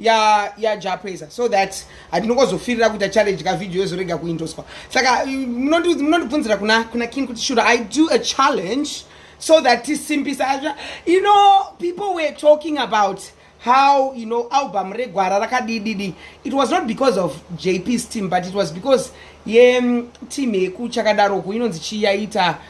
ya ya japeza so that handinongozofirira kuita challenge ka video yozorega kuindoswa saka munondibvunzira kuna kuna king kuti should i do a challenge so that tisimbisa azva you know people were talking about how you know album regwara rakadididi it was not because of jp's team but it was because ye mm, team yeku chakadaroku inonzi chiyaita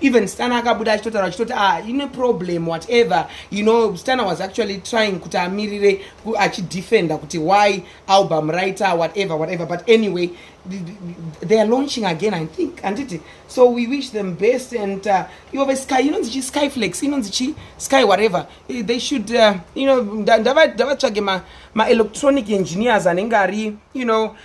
even stana akabuda achitotaura achitoti ah ine problem whatever you know stana was actually trying kuti amirire achidefenda kuti why album writer whatever whatever but anyway they are launching again i think handiti so we wish them best and uh, ivo vesky inonzi chi skyflex inonzi chi sky whatever eh, they should uh, you know ndavatsvage maelectronic engineers anenge ari you know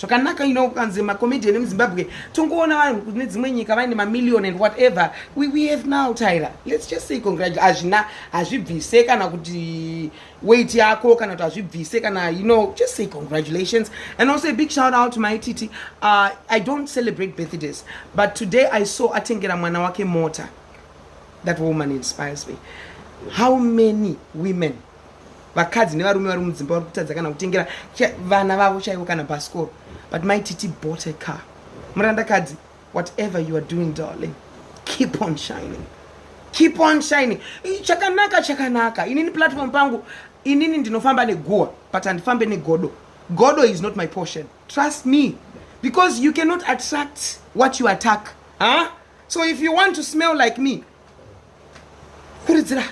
zvakanaka ino ukanzi macomedian emuzimbabwe tongoona vanhu kune dzimwe nyika vaine mamillion and whatever we, we have now tyra lets just say congratulation hazvina hazvibvise kana kuti weight yako kana kuti hazvibvise kana you know just say congratulations and also a big shout out to my titi uh, i don't celebrate birthdays but today i saw atengera mwana wake mota that woman inspires me how many women vakadzi nevarume vari mudzimba vari kutadza kana kutengera vana vavo chaivo kana bhasikoro but mai titi bought a car murandakadzi whatever you are doing darling keep on shining keep on shining chakanaka chakanaka inini platform pangu inini ndinofamba neguwa but handifambe negodo godo is not my portion trust me because you cannot attract what you attack huh? so if you want to smell like me kuridzira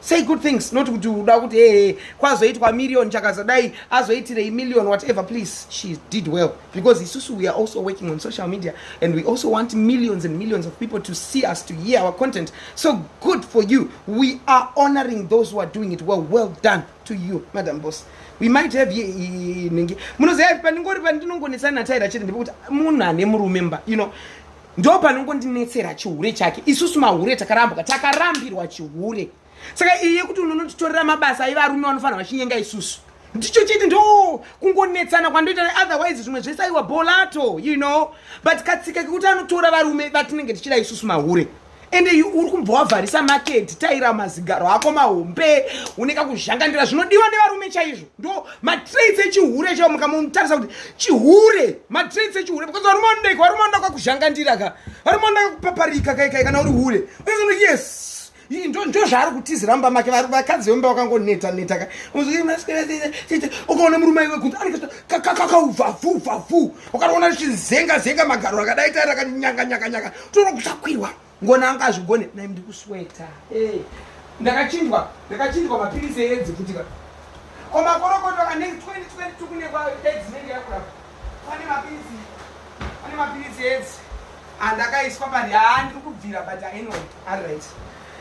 say good things not kuti uda kuti ee kwazoitwa million chakazadai azoitirei million whatever please she did well because isusu we are also working on social media and we also want millions and millions of people to see us to hear our content so good for you we are honoring those who are doing it well well done to you madam boss we might have nhingi munoziva pandingori pandinongonetsana nataira chete ndipekuti munhu ane murume mba you know ndo panongondinetsera chihure chake isusu mahure takarambwa takarambirwa chihure saka iye kuti unonotitorera mabasa aiva arume vanofanira vachinyenga isusu ndicho chete ndo kungonetsana kwandoita otherwise zvimwe zvese aiwa bolato you know but katsika kekuti anotora varume vatinenge tichida isusu mahure ende uri kumbva wavharisa maketi taira mazigaro ako mahombe une kakuzhangandira zvinodiwa nevarume chaizvo ndo matraits echihure chao mukamutarisa kuti chihure matraits echihure because varume vanodeka varume vanoda kakuzhangandira ka varume vanoda kakupaparika kaikai kana uri hure unozono yes ndozvaari kutizira mumba make vakadzi vemumba vakangoneta neta ka ukaona murume aiwe kunzi anekakauvavuvavuu ukaona chinzenga zenga magaro akadai taira kanyanga nyanga nyanga toro kuchakwirwa ngona anga azvigone nai ndiri kusweta eh, ndakachinjwa ndakachinjwa mapiritsi eedzi kuti ka ko makorokoto ane 2022 kune kwaedzi nenge yakurapa pane mapiritsi pane mapiritsi eedzi andakaiswa pari haa ndiri kubvira but aino ari right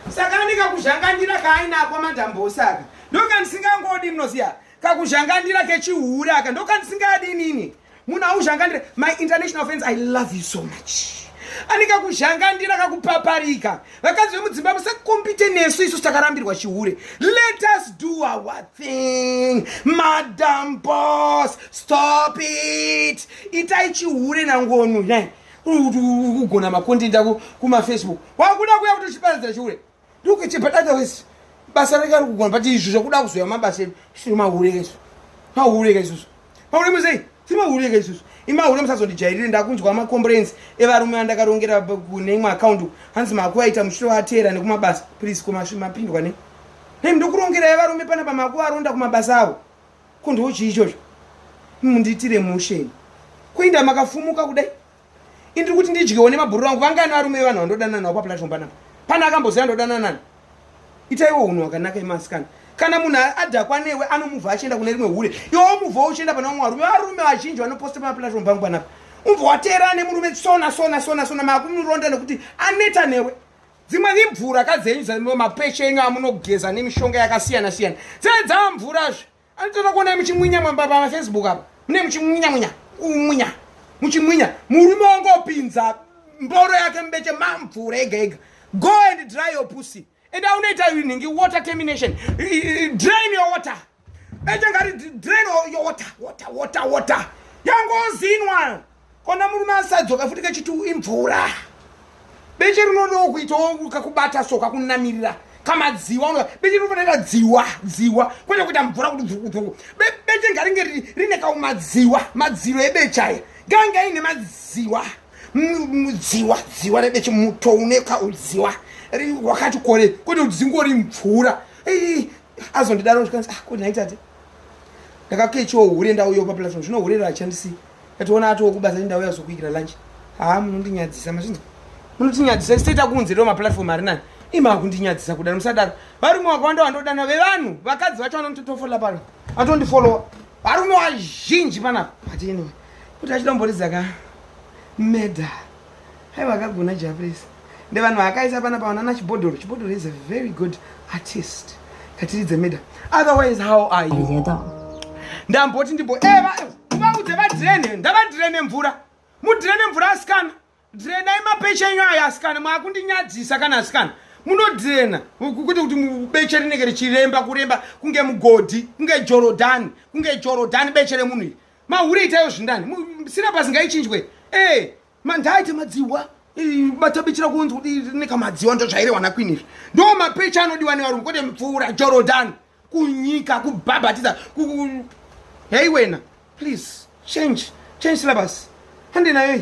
saka ndikakuzhanganira kaainakwa madhambosi aka ndoka ndisingangodi mnoziya kakuzhangandira kechihure aka ndokandisingadi inini munhu auzhangandira my international friends i love you so much ane kakuzhangandira kakupaparika vakadzi vemudzimba musakompite nesu isu takarambirwa chihure let us do our thing madam bos stop it itai chihure nangonu kugona makontenta kumafacebook wakuda kuya kuti uchiparadzira chihure ndokuite padada wese basa rake ari kugona but izvo zvakuda kuzoya mabasa edu siri mahureka izvo mahureka izvozvo mahureka musei siri mahureka izvozvo imahureka musazondijairire ndakunzwa macomplains evarume andakarongera kune imwe account hanzi makuvaita muchito vateera nekumabasa please komapindwa ne nei ndokurongerai varume pana pamakuvaronda kumabasa avo ko ndoochii ichocho mundiitire musheni kuinda makafumuka kudai indiri kuti ndidyewo nemabhururu angu vangani varume vevanhu vandodanana navo paplatform panapa pane akamboziva ndodanana nani itaiwo unhu hwakanaka emasikana kana munhu adhakwa newe anomuvha achienda kune rimwe hure iwe omuvhawo uchienda pana vamwe varume varume vazhinji vanoposta pamaplatform pangu panapa umbva wateerana nemurume sona sona sona sona maakumuronda nekuti aneta newe dzimwe imvura kadzenyu dzamapeshe enyu amunogeza nemishonga yakasiyana siyana dzedzamvurazve Anotoda kuona muchimwinya mwamba pa Facebook apa. Mune muchimwinya mwinya. Umwinya. Muchimwinya. Murume wangu opinza mboro yake mbeche mamvura ega ega. Go and dry your pussy. And I unoita nhingi water termination. Drain your water. Beche ngari drain your water. Water water water. Yangozinwa. kona murume asadzoka futi kachiti imvura beche rinodawo kuitawo kakubata so kakunamirira kamadziwa unoa beche rinofanira dziwa dziwa kwete kuita mvura kuti dzukudzuku beche ngaringe rine kaumadziwa madziro ebeche aya ngainge aine madziwa mudziwa dziwa rebeche muto une kaudziwa wakati kore kwete kuti dzingori mvura azondidaro zvikanzi ah, kodi naitate ndakakechiwo hure ndauyo paplaton zvino hure rachandisii Tationa ati wokubasa ndauya zokuikira lunch. Haa munondinyadzisa machinzi. Munotinyadzisa state akunze ndo maplatform ari nani. Ima kundinyadzisa kudana musadaro. Varume wakawanda wandodana vevanhu vakadzi vacho vanototofola pano. Atondifollowa. Varume wazhinji panapa. But anyway. Kuti achida mboridza ka. Meda. hai vakagona japresa ndevanhu akaisa pana pawanana chibhodhoro chibhodhoro is a very good artist ngatiridze meda otherwise how are you ndamboti ndimbo eva eh, vaudze vadrene ndavadrene mvura mudrene mvura asikana drenai mapeche enyu ayo asikana maakundinyadzisa kana asikana munodrena kuti kuti beche rinenge richiremba kuremba kunge mugodhi kunge jorodhani kunge jorodhani beche remunhu iri mahure itayo zvindani sina pasi ngaichinjwe e mandaite madziwa batabichira kunzwa nekamadziwa ndozvairewana kwini izvi ndo mapecha anodiwa nevarungu kwete mupfuura jorodani kunyika kubhabhatiza hei wena please change change syllabus handinayo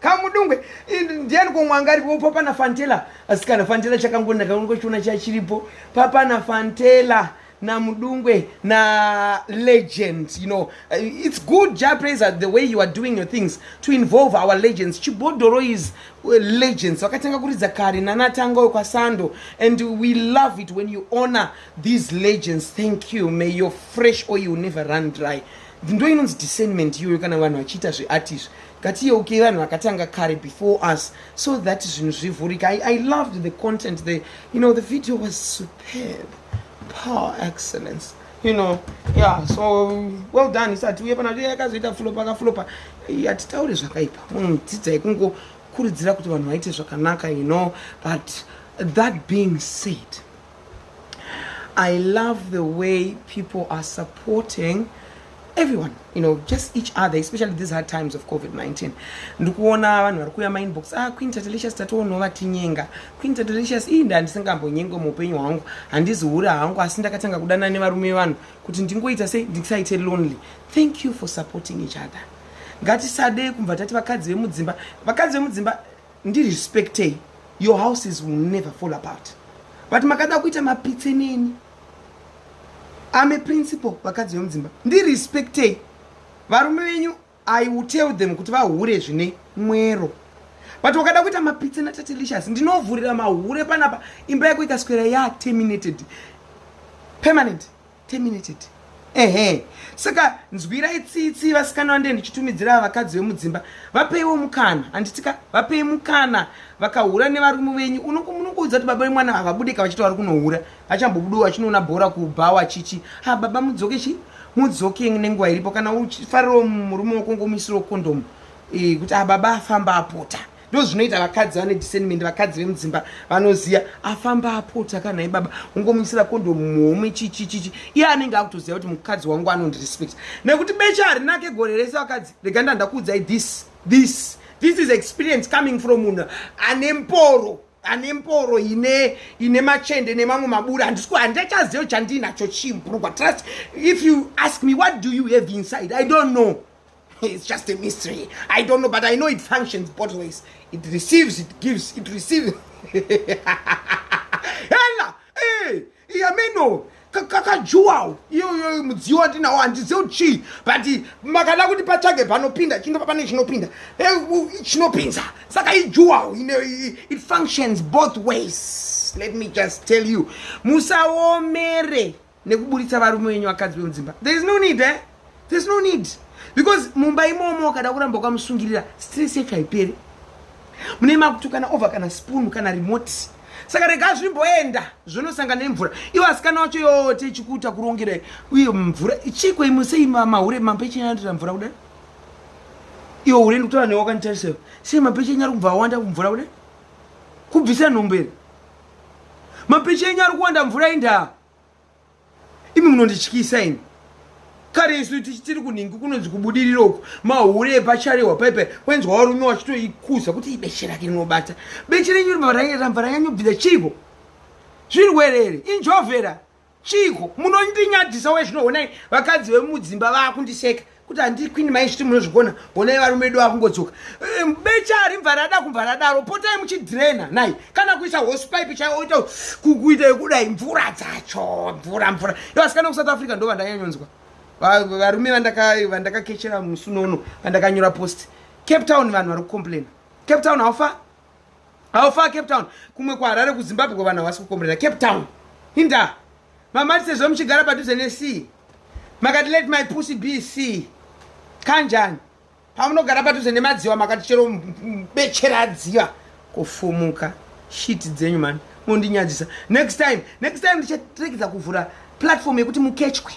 kamudungwe ndiani komwanga aripo papana fantela asikana fantela chakangona kaongo chiona chachiripo papana fantela na mudungwe na legends you know uh, it's good ja praiser the way you are doing your things to involve our legends chibodoro is uh, legends vakatanga kuridza kare nanatanga uyo kwasando and we love it when you honor these legends thank you may your fresh oil never run dry ndindo inonzi discernment iyoyo kana vanhu vachiita zveart izvi ngatiyeukei vanhu vakatanga kare before us so that zvinhu zvivhurika I, i loved the content the, you know the video was superb power excellence you know yeah so well done isati uye pana yakazoita fulopa akafulopa hatitauri zvakaipa munhu mm, dzidzai kungokurudzira kuti vanhu vaite zvakanaka you know but that being said I love the way people are supporting everyone you know just each other especially these hard times of covid-19 ndikuona vanhu vari kuuya mainbox ah queen tatelicious tatoonwa vatinyenga queen tatelicious ii nda ndisingambonyengwe muupenyu hwangu handizihura hangu asi ndakatanga kudana nevarume vanhu kuti ndingoita sei ndisaite lonely thank you for supporting each other ngatisade kumva tati vakadzi vemudzimba vakadzi vemudzimba ndirespectei your houses will never fall apart but makada kuita mapitse neni ame principal vakadzi vemudzimba ndirespectei varume venyu i will tell them kuti vahure zvine mwero but wakada kuita mapitse natatelicious ndinovhurira mahure panapa imba yako ikaswera yaterminated permanent terminated ehe saka nzwirai tsitsi vasikana vande ndichitumidzira vakadzi vemudzimba vapeiwo mukana handitika vapei mukana vakahura nevarume venyu unokuudza kuti baba vemwana havabudika vachiti vari kunohura vachambobudiwo vachinoona bhora kubhawa chichi ha baba mudzoke chi mudzoke nenguva iripo kana uchifarirawo murume wako ngomuisirawo kondomu e, kuti ababa afamba apota ndozvinoita vakadzi vane discernment vakadzi vemudzimba vanoziya afamba apota kana ibaba ungomuisira kondo muhomwe chichichichi iye anenge akutoziva kuti mukadzi wangu anondirespect nekuti becha harinake gore rese vakadzi rega ndandakuudzai this this this is experience coming from munhu ane mporo ane mporo ine ine machende nemamwe maburi handisiko handichaziva chandiinacho chimburugwa trust if you ask me what do you have inside i don't know It's just a mystery. I don't know, but I know it functions both ways. It receives, it gives, it receives. Hela! Hey! Yameno! kakajuwawo iyoyo mudziyo wandinawo handizive kuti chii but makada kuti patsvage panopinda chindopa pane chinopinda chinopinza saka ijuwawo it functions both ways let me just tell you musaomere nekuburitsa varume wenyu vakadzi vemudzimba there is no need eh? there is no need because mumba imomo ukada kuramba ukamusungirira stress yacho haiperi mune makutukana over kana spoon kana remote saka rega zvimboenda zvonosangana nemvura ivo asikana wacho yote ichikuita kurongera uye mvura chiko imwe sei mahure mambe chinyanatira mvura kudai iwo hure ndikutaura newe wakanditarisa sei mambe chinyari kubva awanda kumvura kudai kubvisa nhombo here mapicha enyu ari kuwanda mvura indaa imi munondityisa imi kare isu tiri kunhingi kunonzi kubudirira uku mahure epacharehwa paipai wenzwa warume wachitoikuza kuti ibeche rake rinobata beche renyu ramvara yanyu bvira chiiko zvirwere iri injovera chiiko munondinyadzisa we zvino honai vakadzi vemudzimba vakundiseka kuti handii queen mai zviti munozvigona honai varume edu vakungodzoka ehm, becha harimva rada kumva radaro potai muchidrena nai kana kuisa hosepipe chaioita kukuita yekudai mvura dzacho mvura mvura yo asikana kusouth africa ndo vandanyanyonzwa varume vandakakechera musunono vandakanyora post cape town vanhu vari kucomplaina cape town haufa How far Cape Town? Kumwe kwa Harare ku Zimbabwe vanhu havasi kukomborera Cape Town. Hinda. Mama tisezvo muchigara padhuze ne sea. Makati let my pussy be sea. Kanjani? Pamunogara padhuze ne madziwa makati chero bechera dziwa kufumuka. Shit dzenyu man. Mundinyadzisa. Next time, next time ndichatekedza kuvhura platform yekuti mukechwe.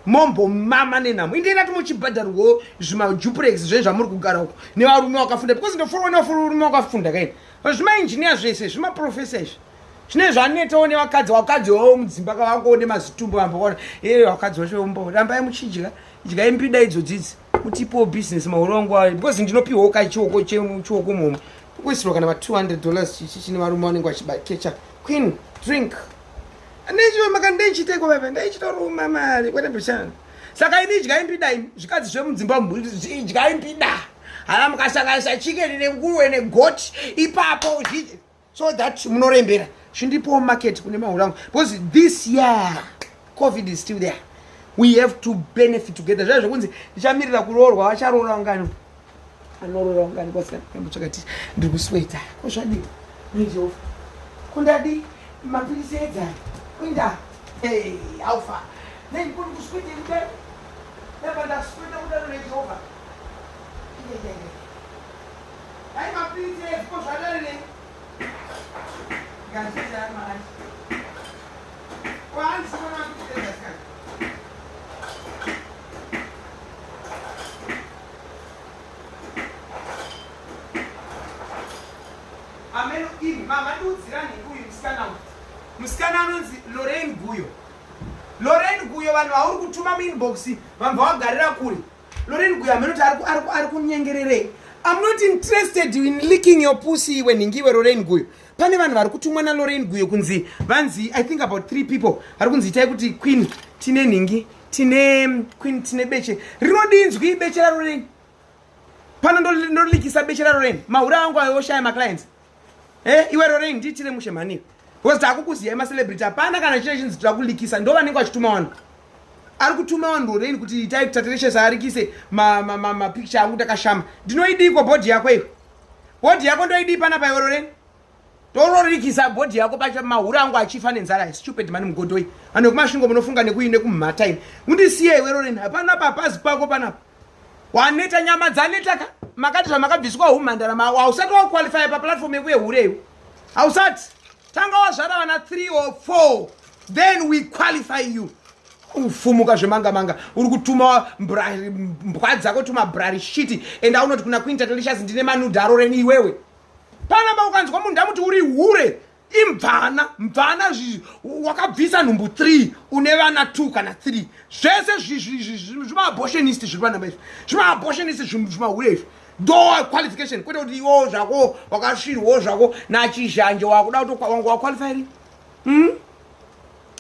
mombo mama nenhamo indeira ti muchibhadharwo zvimajupurex zve zvamuri kugara uko nevarume wakafunda because ndoforwa nevarume wakafunda kaini zvimainjiniya zvese zvimaprofesa izvi zvine zvanetawo nevakadzi vakadzi wavo mudzimba kavakuone mazitumbu vamboona ee vakadzi vachombo rambai muchidya idyai mbida idzo dzidzi mutipowo business mahoro wangu ayo because ndinopiwawo kai chioko chioko mhomwe kuisirwa kana va 200 dollars chichi chine varume vanenge vachibakecha queen drink Andichiwe maka ndichite ko baba ndichita ruma mari kwete bishana. Saka ini idyai mpida imi zvikadzi zvemudzimba idyai mpida. Hala mukasanganisa chicken nenguruwe negoti ipapo uzvidye so that munorembera chindipowo market kune mahura angu because this year covid is still there we have to benefit together zvaa zvekunzi ndichamirira kuroorwa vacharoora ungani anorora wanga ari kwasina kunyambo chakati ndiri kusweta ko zvadii mujehova kundadi mapirisi edzai kuinda alfa nei kuri kuswete kudaro dapa ndasweta kudaro nejehova dai mapirisi edzi ko zvadare nei ngazvidzai maai kwaanziona ameno imi mamandiudzirani uyu musikana uyu musikana anonzi loren guyo loren guyo vanhu vauri kutuma muinbox vamva wagarira kuri loren guyo amenoti ari kunyengererei I'm not interested in licking your pussy when nhingiwe Lorraine Guyo. Pane vanhu vari kutumwa na Lorraine Guyo kunzi vanzi I think about three people vari kunzi itai kuti Queen tine nhingi tine queen tine beche rinodinzwi beche raro nei pano ndolikisa beche raro reni mahura angu ayo oshaya maclients e eh, iwe rorei ndiitire mushe mhani because takukuziyai macelebrity hapana kana chine chinzi tira kulikisa ndo vanenge vachituma vanhu ari kutuma vanhu rorei kuti itai kutatereshes arikise mapicture angu takashama ndinoidii ko bhodhi yako iyo bhodhi yako ndoidii panapa iwe rorei tororikisa bhodhi yako pacha mahura angu achifa nenzara stupid mani mugodoi vanhu vekumasvingo munofunga nekuyi nekumhata ini undisiye iwe roreni hapana papazi pako panapa waneta nyama dzaneta ka makati zvamakabviswa humhandara mavo hausati wakuqualifya paplatform yekuye hureyu hausati tanga wazvara vana 3 or 4 then we qualify you ufumuka zvemanga manga uri kutuma mbwa dzako tuma brari shiti enda unoti kuna quinta delicious ndine manudharo reni iwewe panapa ukanzwa munhu ndamuti uri hure imvana mvana zvizi wakabvisa nhumbu three une vana two kana three zvese zvimaaboshenist zviri panapa izvi zvimaaboshenist zvimahure izvi do qualification kwete kuti iwo zvako wakasvirwawo zvako nachizhanje wakuda kuti wanga waqualifyiri hmm?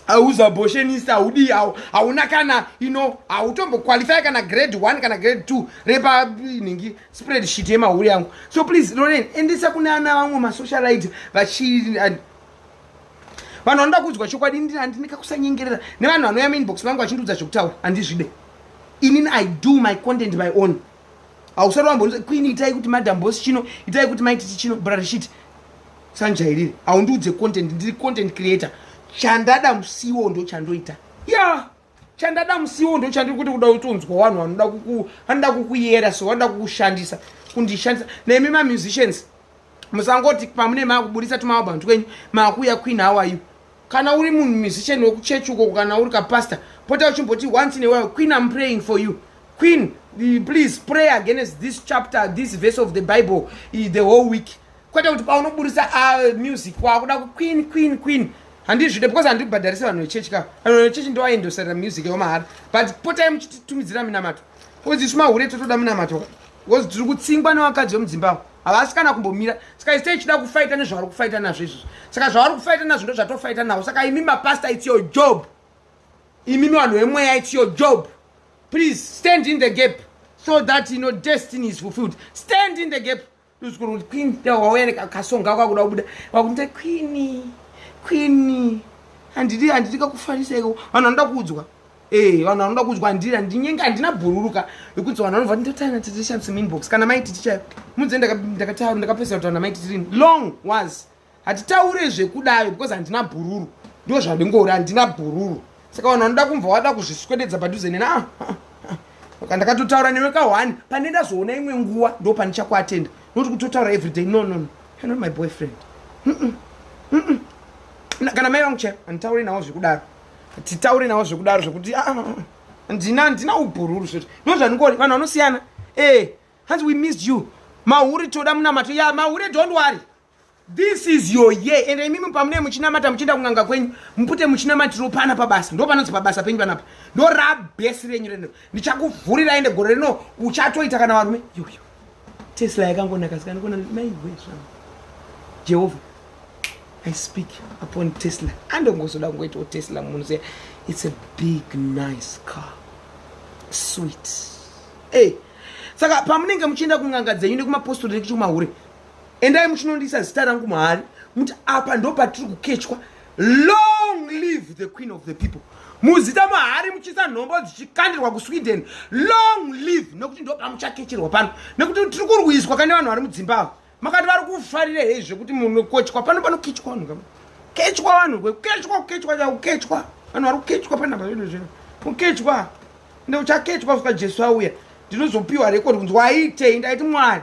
hauza boshenisi haudii hau hauna kana ino hautomboqualify kana grade one kana grade two repa nhingi spread shit yemahuri yangu so please loren endesa kune ana vamwe masocialite vachi vanhu vanoda kuudzwa chokwadi ndini handini kakusanyengerera nevanhu vanouya mainbox vangu vachindiudza zvekutaura handizvide inini i do my content by own hausati wambo queen itai kuti madam boss chino itai kuti maititi chino brarishit sanjairire haundiudze content ndiri content creator chandada musiwo ndo chandoita ya yeah. chandada musiwo ndo chandiri kuti kuda kutonzwa vanhu vanoda kuku vanoda kukuyera so vanoda kukushandisa kundishandisa nemi mamusicians musangoti pamune maakuburitsa tumaalbum twenyu maakuuya queen how are you kana uri munhu musician wekuchechi ukoko kana uri kapastor pota uchimboti once in a while queen am praying for you queen please pray against this chapter this verse of the bible eh, the whole week kwete kuti paunoburitsa ah, music wakuda ku queen queen queen handizvide because handibhadharise vanhu vechechi ka vanhu vechechi ndovaendosarira music yomahara but potai muchititumidzira minamato because isu mahure totoda minamato because tiri kutsingwa nevakadzi vemudzimba avo havasi kana kumbomira saka ise ichida kufaita nezvavari kufaita nazvo izvozvo saka zvavari kufaita nazvo ndo zvatofaita navo saka imi mapasta its your job imi mivanhu vemweya its your job please stand in the gap so that you know destiny is fulfilled stand in the gap uzukuru queen wauya nekasonga kwakuda kubuda wakunita queeni queeni handidi handidi kakufaniseko vanhu vanoda kuudzwa Eh, vanhu vanoda kudya ndira ndinyenge handina bhururuka yekuti vanhu vanobva ndotaina titishandise minbox kana maiti tichayo mudze ndakataura ndakapesera kuti vana maiti tirini long was hatitaure zvekudayo because handina bhururu ndo zvandingori handina bhururu saka vanhu vanoda kumva wada kuzviswededza padhuze nena ah, ah, ah. saka ndakatotaura newe ka one pane ndazoona imwe nguva ndo pandichakuatenda noti kutotaura everyday no no no you're not my boyfriend mm -mm. Mm -mm. kana mai vangu chaivo handitaure nawo zvekudaro titaure nawo zvekudaro zvekuti ah, ah, ah, ndina handina ubhururu zveti no zvandingori vanhu vanosiyana e eh, hanzi we missed you mahuri toda munamato ya mahure don't worry this is your year and imimi pamunee muchinamata muchienda kun'anga kwenyu mupute muchinamatiro pana pabasa ndo panonzi pabasa penyu panapa ndo rabhesi renyu reno ndichakuvhurira ende gore rino uchatoita kana varume yoyo tesla yakangonaka sika ndikuona maigwe zvangu jehovha i speak upon tesla andongozoda kungoitawo tesla munhu ziya it's a big nice car sweet ey hey. saka pamunenge muchienda kun'anga dzenyu nekumapostori nekuchikumahure endai muchinondisa zita rangu mahari muti apa ndo patiri kukechwa long live the queen of the people muzita mahari muchiisa nhombo dzichikandirwa kusweden long live nekuti ndopamuchakecherwa pano nekuti tiri kurwiswa kane vanhu vari mudzimbabwe makati vari kufarira hei zvekuti munokochwa pano panokechwa vanhu kama kechwa vanhu kukechwa kukechwa chakukechwa vanhu vari kukechwa panapa zvinhu zvino kukechwa ndeuchakechwa kusvika jesu auya ndinozopiwa rekodi kunzi waitei ndaiti mwari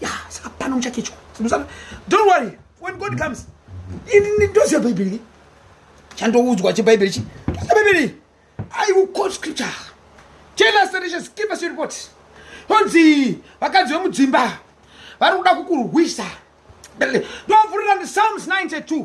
ya saka pano muchakechwa simusana don't worry when god comes ini ndoziva bhaibheri chandoudzwa chebhaibheri chi ndoziva bhaibheri i will quote scripture jealous relations give us your report honzi vakadzi vemudzimba vari kuda kukurwisa ndovhurira ndi psalms 92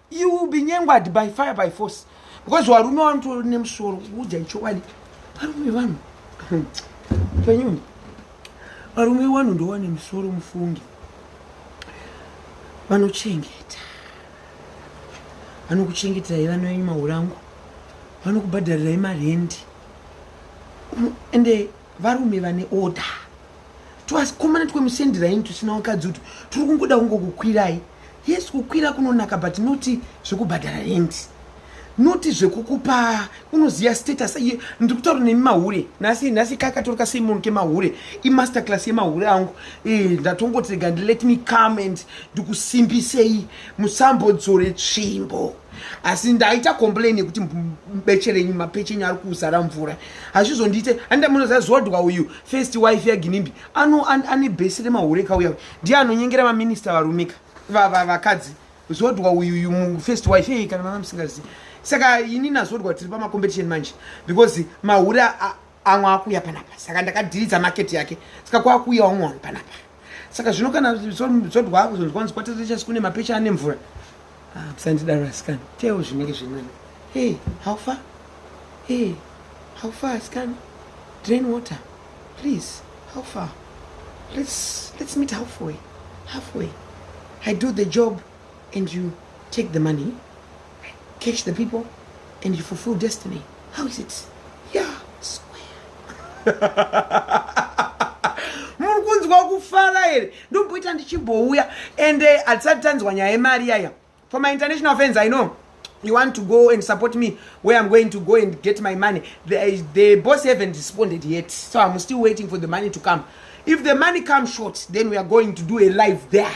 You will be nyengwadi by fire by force because varume vanotori nemusoro kuudza chokwadi varume vanhu penyuno varume vanhu ndova nemusoro mufungi vanochengeta vanokuchengeterai vana venyu mahurangu vanokubhadharirai marendi ende varume vane order twasikomana twemusendiraini tusina wakadzi utu turi kungoda kungokukwirai yes kukwira kunonaka but noti zvekubhadhara rendi noti zvekukupa unoziva status iye ndiri kutaura nemi mahure nhasi nhasi kaka torika sei munhu kemahure imaster class yemahure angu eh, ndatongoti rega ndi let me come and ndikusimbisei musambodzore tsvimbo asi ndaita complain yekuti beche renyu mapeche enyu ari kuzara mvura hazvizondiite anda munozazuva dwa uyu first wife yaginimbi ano ane bhesi remahure kauya ndiye anonyengera maminista varumika vakadzi zodwa uyuyu mufirst wife eye kana mama musingazivi saka ini nazodwa tiri pamacompetition manje because mahure amwe akuuya panapa saka ndakadhiridza market yake saka kwakuuya wamwe wanhu panapa saka zvino kana zodwa ako zvinhu kwanzi kwatete chasi kune mapecha ane mvura ah, bsandidaro asikana teo zvinenge zvinani hey how far hey how far asikana drain water please how far let's, let's meet halfway halfway i do the job and you take the money catch the people and you fulfill destiny how is it yeah swear muri kunzwa kufara here ndomboita ndichimbouya and eh, hatisati tanzwa nyaya yemari yaya for my international fans i know you want to go and support me where i'm going to go and get my money the, the boss haven't responded yet so i'm still waiting for the money to come if the money comes short then we are going to do a live there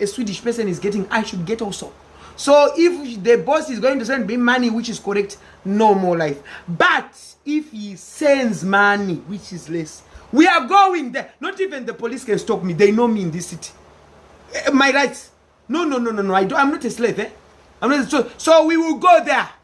a swedish person is getting i should get also so if the boss is going to send me money which is correct no more life but if he sends money which is less we are going there not even the police can stop me they know me in this city eh, my rights no no no no no I do, i'm not a slave eh? i'm not a, so, so we will go there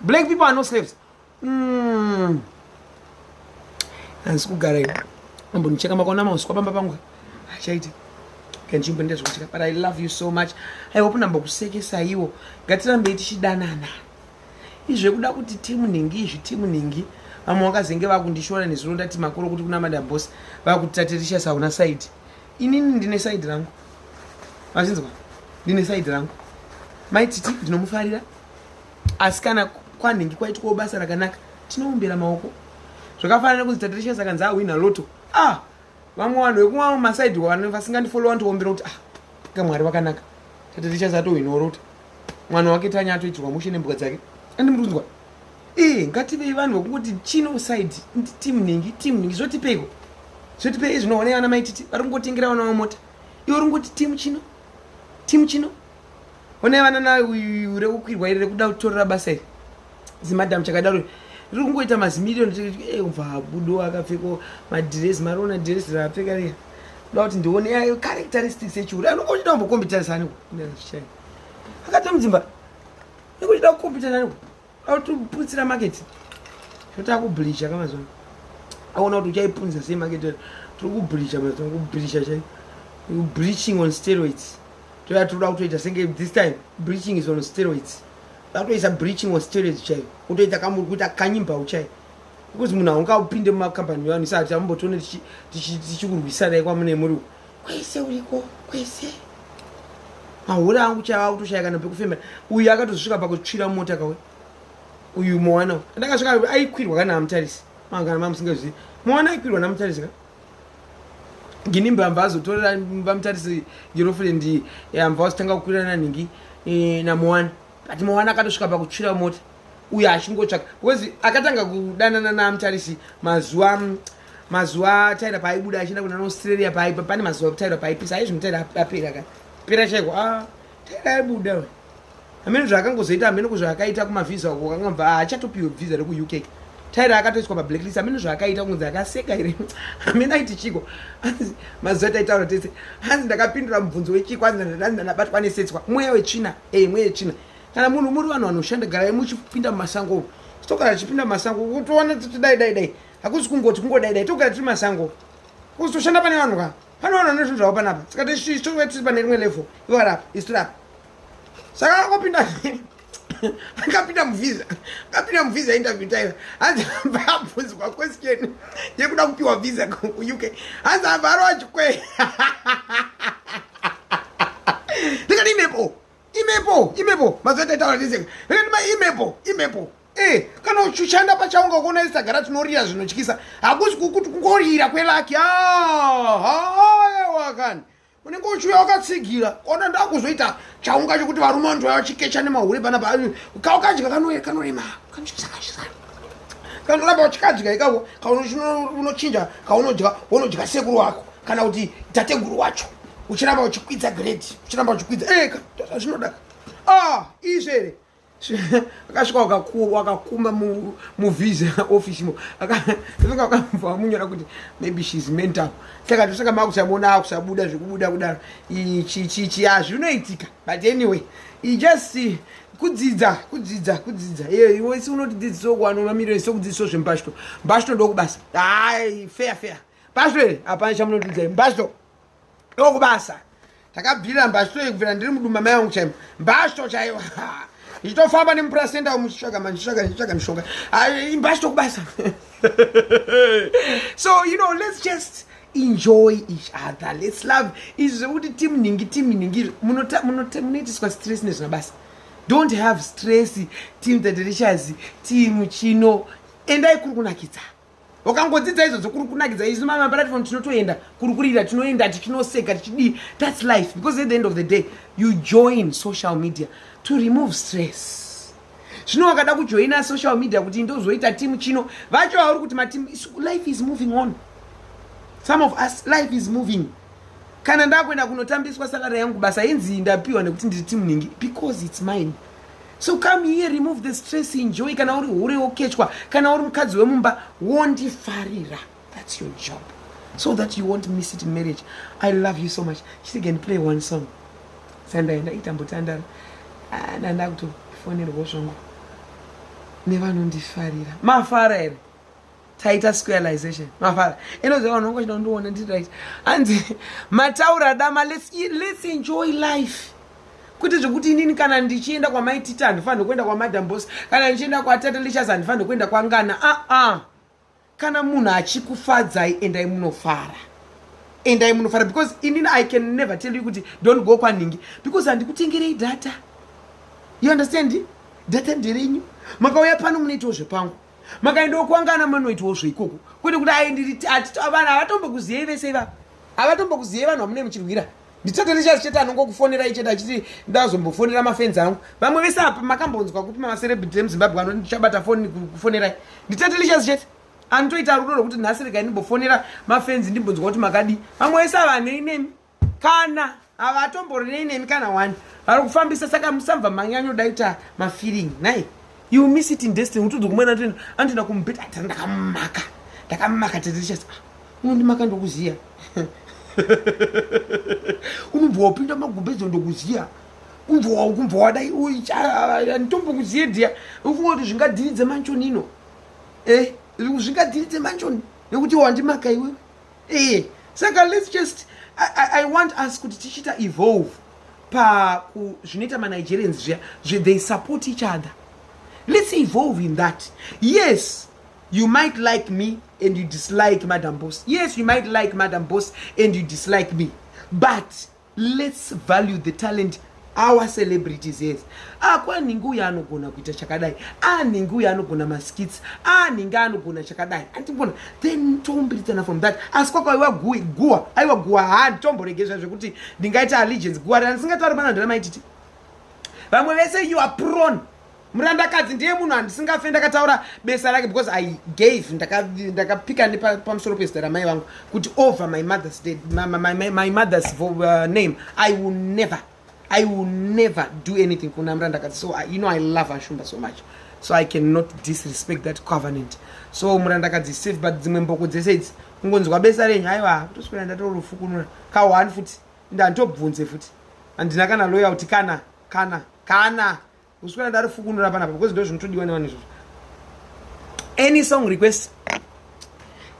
black people are no slaves mm. hanzi kugara iwe ambonicheka makaona mauswa pamba pangu achaiti kanzvimbo ndezvokucheka but i love you so much i hope nambokusekesaiwo ngatirambei tichidanana izvekuda kuti timu nhingi izvi timu nhingi vamwe vakazenge vakundishora nezuro ndati makuru kuti kuna madam boss vakuti tatirisha sauna saidi inini ndine saidi rangu vachinzwa ndine saidi rangu mai titi ndinomufarira asi kana kwanhingi kwaitwawo basa rakanaka tinoumbira maoko zvakafanana kuti tatricious akanzi ahwina loto ah vamwe vanhu vekumwa masaidi vanhu vasingandifollowa ndiombira kuti ah ka mwari vakanaka tatricious atohwinawo loto mwana wake tanya atoitirwa mushe nembuka dzake andimurunzwa Eh, ngativei vanhu vakungoti chino side team ningi team ningi zvotipeiko zvotipei zvinoonei vana maititi vari kungotengera vana vamota iwe uri kungoti team chino team chino onai vana na rekukwirwa iri rekuda kutorera basa iri zimadam chakadaro riri kungoita mazimirioni eh, mva habudo akapfeko madhiresi mariona dhiresi raapfeka riya ndoda kuti ndione yayo characteristics echiuri anongochida kumbokombitarisani akatomudzimba nekuchida kukompita nani autoputsira market zvota kublisha ka mazuva aona kuti uchaipunza sei market tiri kublisha mazuva kublisha chai bleaching on steroids toya tiri kuda kutoita senge this time bleaching is on steroids akutoisa breaching or steroids chaiyo kutoita kamuri kuita kanyimbawu chaiyo because munhu haungaupinde mumakambani vanhu isati ambotione tichikurwisanai kwamune muri kwese uriko kwese mahura angu chava kutoshaya kana pekufembera uyu akatozvika pakutsvira mota kawe uyu mowana ndakasvika aikwirwa kana amutarisi mangana mamusingazivi mowana aikwirwa namutarisi ka gini mbamba azotorera vamutarisi girlfriend yambva eh, wasitanga kukwirana nhingi eh, namowana but mowana akatosvika pakutsvira mota uyo achingotsvaka because akatanga kudanana namutarisi mazuva mazuva taira paaibuda achienda kuna australia paaipa pane mazuva taira paaipisa aizvi mutaira apera ka pera chaiko a ah, taira aibuda we amene zvaakangozoita amene ko zvaakaita kumavhiza ko kangamba haachatopiwe ah, vhiza rekuuk taira akatoiswa pablacklist amene zvaakaita kunzi akaseka here amene aiti chiko anzi mazuva taitaura tese hanzi ndakapindura mubvunzo wechiko anzi ndanabatwa anesetswa mweya wetsvina e mweya wetsvina kana munhu muri vanhu vanoshanda garai muchipinda mumasango umu tokana tichipinda mumasango toona tichidai dai dai hakusi kungoti kungodaidai togara tiri masango kuzi toshanda pane vanhu ka pane vanhu vane zvinhu zvavo panapa saka titove tiri pane rimwe level ivo varapa isu tirapa saka akapinda akapinda muvhiza akapinda muvhiza interview taiva hanzi amba abvunzwa question yekuda kupiwa vhiza kuuk hanzi amba aro achikwe ndikati imepo imepo imepo mazuva taitaura ndiseka ndikati ma imepo imepo Eh, kana uchushanda pachaunga kuona isagara tinorira zvinotyisa hakusi kukuti kungorira kwelaki wakani unenge uchiuya wakatsigira kona ndakuzoita chaunga chekuti varume vanhu vachikecha nemahure pana kaukadya kanorema kanoramba wachikadya ikako kaunochinja kaunodya unodya sekuru wako kana kuti tateguru wacho uchiramba uchikwidza grade uchiramba uchikwidza eka eh, zvinoda ah izvere akasvika wakakuru wakakumba muvhiza office mo akaenga wakamubva wamunyora kuti maybe shes mental saka ndosaka makusamuona akusabuda zvekubuda kudaro chichichi hazvinoitika but anyway just kudzidza kudzidza kudzidza iwe si unoti dzidziso kuwano mamiriro sokudzidziso zvembashto mbashto ndokubasa hai fair fair mbashto here hapana chamunotidzai mbashto ndokubasa takabvirira mbasho yekubvira ndiri mudumba mai vangu chaimo mbasho chaiwa ndichitofamba nemupurasenda umu chitsvaga manje chitsvaga ndichitsvaga mishonga imbasho tokubasa so you know let's just enjoy each other let's love izvi zvekuti timu ningi timu ningi munoitiswa stress nezvemabasa don't have stress team the delicious team chino endai kuri kunakidza wakangodzidza izvozvo kuri kunakidza isu mama platform tinotoenda kuri kurira tinoenda tichinoseka tichidii thats life because at the end of the day you join social media to remove stress zvino wakada kujoina social media kuti ndozoita timu chino vacho vauri kuti matimu life is moving on some of us life is moving kana ndakuenda kunotambiswa salary yangu basa inzi ndapiwa nekuti ndiri timu ningi because its mine so come here remove the stress enjoy kana uri hure wokechwa kana uri mukadzi wemumba wondifarira that's your job so that you won't miss it in marriage i love you so much chiti can play one song sandaenda itambotandara ah, nanda kutofonerwo zvongo nevanondifarira mafara here taita squareization mafara inoziva vanhu vangu chinondiona ndiri right hanzi mataura adama let's, e, let's enjoy life kwete zvekuti inini kana ndichienda kwamaitita handifanire kuenda kwamadam bos kana ndichienda kwatata lichas handifanire kuenda kwangana aa ah, ah. kana munhu achikufadzai endai munofara endai munofara because inini i can never tell you kuti don't go kwanhingi because handikutengerei data you understand data nderenyu makauya pano munoitawo zvepangu makaendawo kwangana manoitwawo zveikoko kwete kuti ai ndiri vanhu havatombokuziyei vese iva havatombokuziyei vanhu vamune muchirwira ndichete ndichazi chete anongokufonera ichete achiti ndazombofonera mafenzi angu vamwe vese apa makambonzwa kupi mamacerebrity emuzimbabwe vano ndichabata foni kufonerai ndichete ndichazi chete anotoita rudo rwekuti nhasi regai ndimbofonera mafenzi ndimbonzwa kuti makadii vamwe vese ava hanei nemi kana havatomborinei nemi kana wani vari kufambisa saka musambva manyanyoda kuita mafeeling nai you miss it in destiny utudzi kumwe natoenda anotoenda kumubhedha atira ndakamumaka ndakamumaka tirichas ah, unondimaka ndokuziya unobva wapinda magumbedzo ndokuziya umbva wadai nditombonguziye dhiya ufunga kuti zvingadhiridze manchoni ino eh, zvingadhiridze manchoni nekuti wandimaka iwewe eh saka let's just I, I, i want us kuti tichiita evolve paku zvinoita manigerians zviya they support each other let's evolve in that yes you might like me and you dislike madam boss yes you might like madam boss and you dislike me but Let's value the talent our celebrities yes akwanhingi ah, uyo anogona kuita chakadai anhingi ah, uyo anogona maskits anhingi ah, anogona chakadai andibona then tombiridzana from that asi kwakaiwa guwa aiwa guwa handitomboregezva zvekuti ndingaita allegiance guwa randisingatauri pana ndira maititi vamwe vese you are prone murandakadzi ndiye munhu andisingafe ndakataura besa rake because i gave ndakapika nepamusoro pezita ramai vangu kuti over my mother's, dead, my, my, my, my mother's vo, uh, name i will never i will never do anything kuna murandakadzi so I, you know i love ashumba so much so i cannot disrespect that covenant so murandakadzi safe but dzimwe mboko dzese idzi kungonzwa besa renyu haiwa kutoswera ndatorofukunura kahwani futi ndanditobvunze futi handina kana loya kuti kana kana kana usikana ndari fukunura panapa because ndo zvinotodiwa nevanhu izvozvo any song request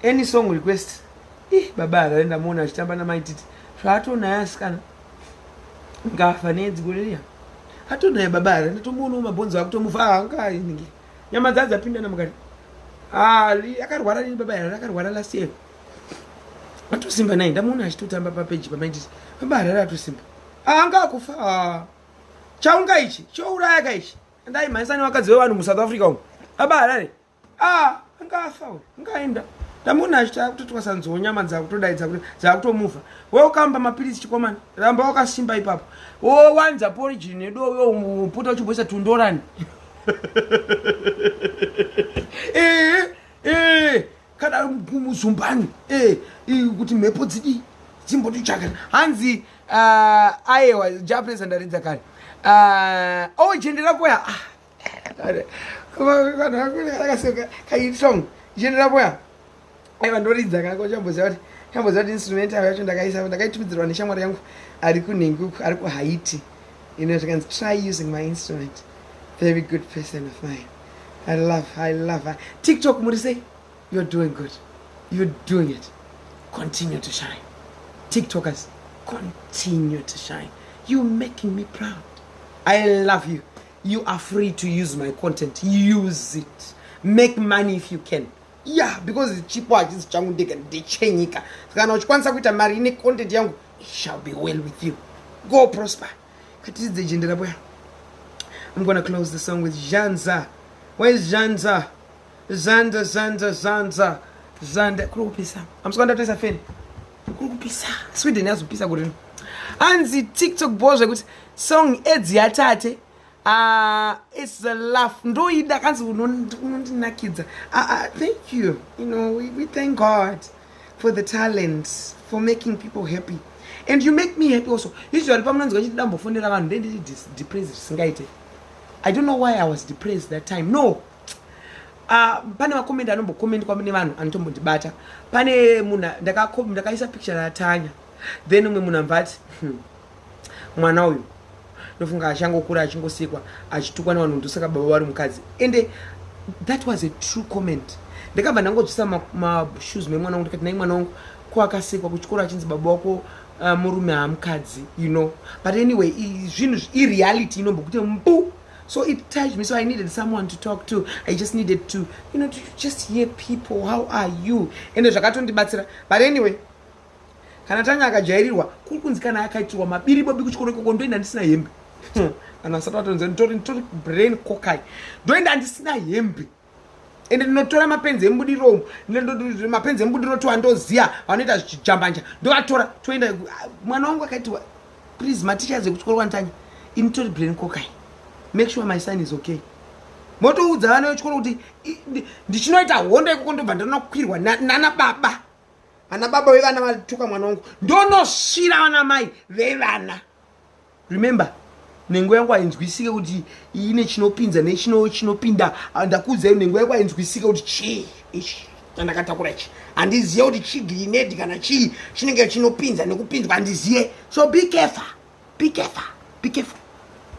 any song request ih baba harare ndamuona achitamba namaititi zvaatonaye asikana ngafa nedziko riya atonaye baba harare ndatomboonao mabhonzo akutomufa ahangainge nyama dzaa dzapindana mukati ali akarwara nini baba harare akarwara last year atosimba naye ndamuona achitotamba papeji pamaititi baba harare atosimba ahangakufa ah. chaunga ichi chouraya ka ichi andai mhanyisa nevakadzi vevanhu musouth africa umu aba harare ah angafa uyu angaenda ndamuona achiti akutotwasanziwo nyama dzakutodaidza kuti dzakutomuvha weukamba mapiritsi chikomana ramba wakasimba ipapo wowanza porigini nedowe uputa uchimboisa tundorani ee ee kana muzumbani eh, kuti mhepo dzidii dzimbotichakana hanzi ah, ayewa japanese andaridza kare ah, ojendera oh, kuya ah, kaitong jendera kuya aiva ndoridza kako chamboziva kuti chamboziva kuti instrument avo yacho ndakaisa ndakaitumidzirwa neshamwari yangu ari kunhengi uku ari kuhaiti ino zvikanzi try using my instrument very good person of mine I love her, I love her. TikTok muri sei? You're doing good. You're doing it. Continue to shine. TikTokers, continue to shine. You're making me proud. I love you. You are free to use my content. Use it. Make money if you can. Yeah, because it's cheaper. chipo hachisi changu ndega ndichenyika kana uchikwanisa kuita mari ine content yangu it shall be well with you go prosper Katiridze jende rabuya. I'm gonna close the song with Janza. Where is Janza? Zanza, Zanza, Zanza. Zanda kuri kupisa. I'm just gonna tell you fan. Kuri kupisa. Sweden yazopisa kuri. Anzi TikTok boy zvekuti song edzi yatate Ah, it's a laugh. Ndoida kanzi unondinakidza. Ah, ah, thank you. You know, we, we thank God for the talent, for making people happy. And you make me happy also. Usually pamunonzwa chiti dambofonera vanhu ndendiri depressed zvisingaite. I don't know why I was depressed that time. No. Uh, pane makomenti anombokomendwa mune vanhu anotombondibata pane munhu ndakaisa picture ratanya then umwe munhu ambvati hmm. mwana uyu ndofunga achangokura achingosikwa achitukwa nevanhu ndosaka baba vari mukadzi ende that was a true comment ndakabva ndangodzvisa mashoes ma memwana wangu ndikati nai mwana wangu ko akasikwa kuchikoro achinzi baba wako uh, murume hamukadzi you know but anyway zvinhu ireality inombo kuti mbu so it touched me so i needed someone to talk to i just needed to you know to just hear people how are you ende zvakatondibatsira but anyway kana tanya akajairirwa kuri kunzi kana akaitirwa mabiri bobi kuchikoro ikoko ndoenda ndisina hembe hmm. kana asati atonzi nditori nditori brain kokai ndoenda ndisina hembe ende ndinotora mapenzi embudiromu mapenzi embudiro tiwa ndoziya vanoita zvichijambanja ndovatora toenda mwana wangu akaitiwa please mateachers ekuchikoro kwanditanya initori brain kokai make sure my son is okay motoudza vana vechikoro kuti ndichinoita hondo ikoko ndobva ndinokwirwa nana baba ana baba vevana vatuka mwana wangu ndonosvira vana mai vevana remember nhengo yangu hainzwisike kuti ine chinopinza nechinopinda ah, ndakuudzai nhengo yangu hainzwisike kuti chii ichi chandakatakura ichi handizive kuti chii grinedi kana chii chinenge chinopinza nekupinzwa handizive so be careful be careful be careful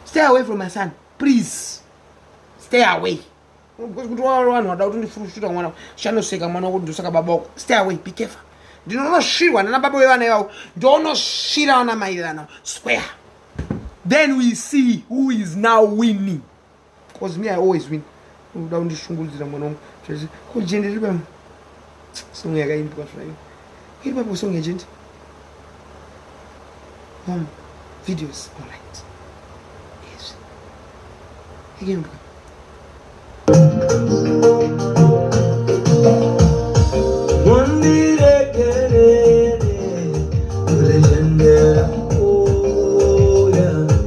stay away from my son please stay away kuti waro vanhu vada kuti ndifurushura mwana chanoseka mwana wokuti ndosaka baba wako stay away be careful ndinonosvirwa nana baba vevana ivavo ndonosvira vana mai vevana square then we see who is now winning bcause me i always win uda kundishungurudzira mwana wangu ko jende ribam Song yakaimbwa zvayo. Iri papo song agent. Mom, videos all right. Yes. Ikaimbwa.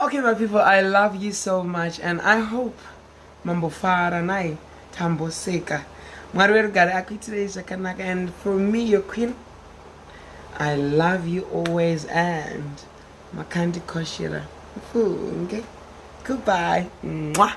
Okay my people, I love you so much and I hope mambofara naye tamboseka. Mwari werugare akuitirei zvakanaka and for me your queen I love you always and Makandi Koshira. Goodbye. Mwah.